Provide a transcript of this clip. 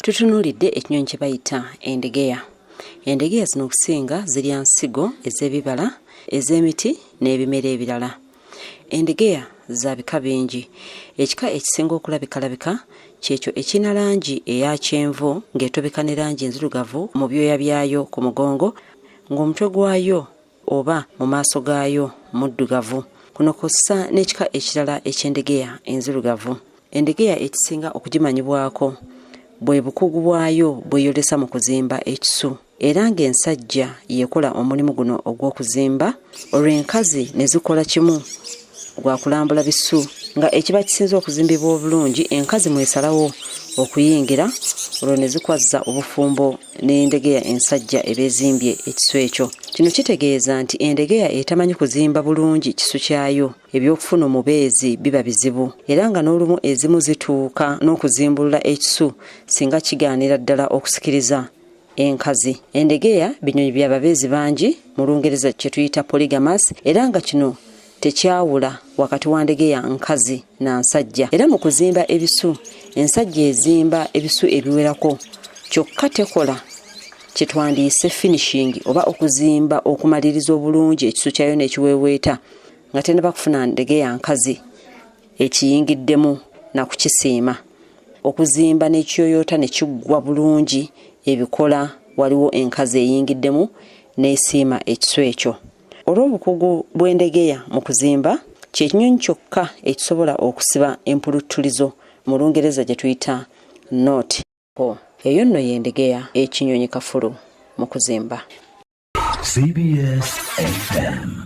tutunuulidde ekinyonyi kye bayita endegeya endegeya zino okusinga zirya nsigo ez'ebibala ez'emiti n'ebimera ebirala endegeya za bika bingi ekika ekisinga okulabikalabika kyekyo ekirina langi eya kyenvu ng'etobeka ne langi enzirugavu mu byoya byayo ku mugongo ng'omutwe gwayo oba mu maaso gaayo muddugavu kuno kw'ossa n'ekika ekirala eky'endegeya enzirugavu endegeya ekisinga okugimanyibwako bwe bukugu bwayo bweyolesa mu kuzimba ekisu era ng'ensajja yekola omulimu guno ogw'okuzimba olwo enkazi ne zikola kimu gwa kulambula bisu nga ekiba kisinze okuzimbibwa obulungi enkazi mwesalawo okuyingira olwo ne zikwazza obufumbo n'endegeya ensajja eba ezimbye ekisu ekyo kino kitegeeza nti endegeya etamanyi kuzimba bulungi kisu kyayo ebyokufuna omubeezi biba bizibu era nga n'olumu ezimu zituuka n'okuzimbulula ekisu singa kigaanira ddala okusikiriza enkazi endegeya binyonyi bya babeezi bangi mu lungereza kye tuyita polygamas era nga kino tekyawula wakati wa ndegeya nkazi na nsajja era mu kuzimba ebisu ensajja ezimba ebisu ebiwerako kyokka tekola kye twandiyise finishingi oba okuzimba okumaliriza obulungi ekisu kyayo n'ekiweeweeta nga tenaba kufuna ndegeya nkazi ekiyingiddemu na kukisiima okuzimba n'ekiyoyoota ne kiggwa bulungi ebikola waliwo enkazi eyingiddemu n'esiima ekisu ekyo Olw'obukugu bw'endegeya mu kuzimba, kye kinyonyi kyokka ekisobola okusiba empuluttulizo mu Lungereza gye tuyita knot. Eyo nno y'endegeya ekinyonyi kafulu mu kuzimba. CBS FM.